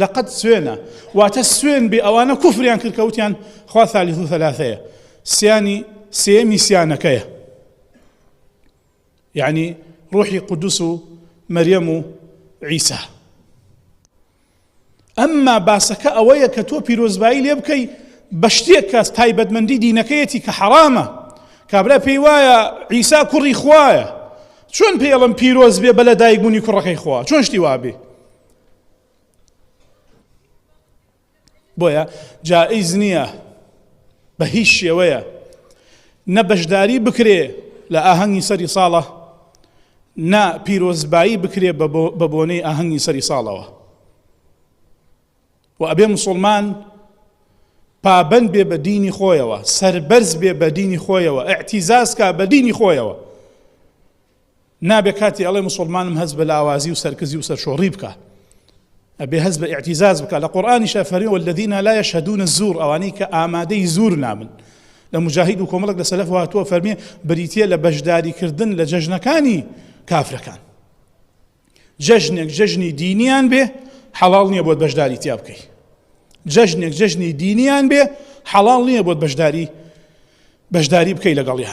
لەقەد سوێنە واتە سوێن بێ ئەوانە کوفریان کرد کە وتیان خوا ثالث و ثلاثەیە سیانی سێمی سیانەکەیە یعنی ڕوحی قودس و مەریەم و عیسا ئەمما باسەکە ئەوەیە کە تۆ پیرۆزبایی لێ بکەی بە شتێک کە تایبەتمەندی دینەکەیەتی کە حەرامە کابرا پێی وایە عیسا کوڕی خوایە چۆن پێڵم پیرۆز بێ بە لە دایکبوونی کوڕەکەی خوا چۆن شتی وابێ بۆیە جائیز نییە بە هیچ شێوەیە نە بەشداری بکرێ لە ئاهەنگی سەری ساڵە نا پیرۆزبایی بکرێ بە بۆنەی ئاهەنگی سەری ساڵەوە و ئەبێ مسلمان پابند بێ بە دینی خۆیەوە سربەرز بێ بە دینی خۆیەوە ئەعتیزازکە بە دینی خۆیەوە نابێ کاتی ئەڵێ موسوڵمانم هەست بە لاوازی و سەرکزی و سەرشۆڕی بکا ئەبێ هەست بە ئیعتیزاز بکا لە قورئانیشە فەرمی والذین لا یشهدون الزور ئەوانەی کە ئامادەی زور نابن لە مجاهید و کۆمەڵک لە سەلەف هاتووە فەرمی بریتە لە بەشداری کردن لە جەژنەکانی کافرەکان جەژنێک جەژنی دینیان بێ حەڵاڵ نییە بۆت بەشداری تیا بکەی جەژنێک جەژنی دینیان بێ حەڵاڵ نییە بۆت بەشداری بەشداری بکەی لەگەڵیان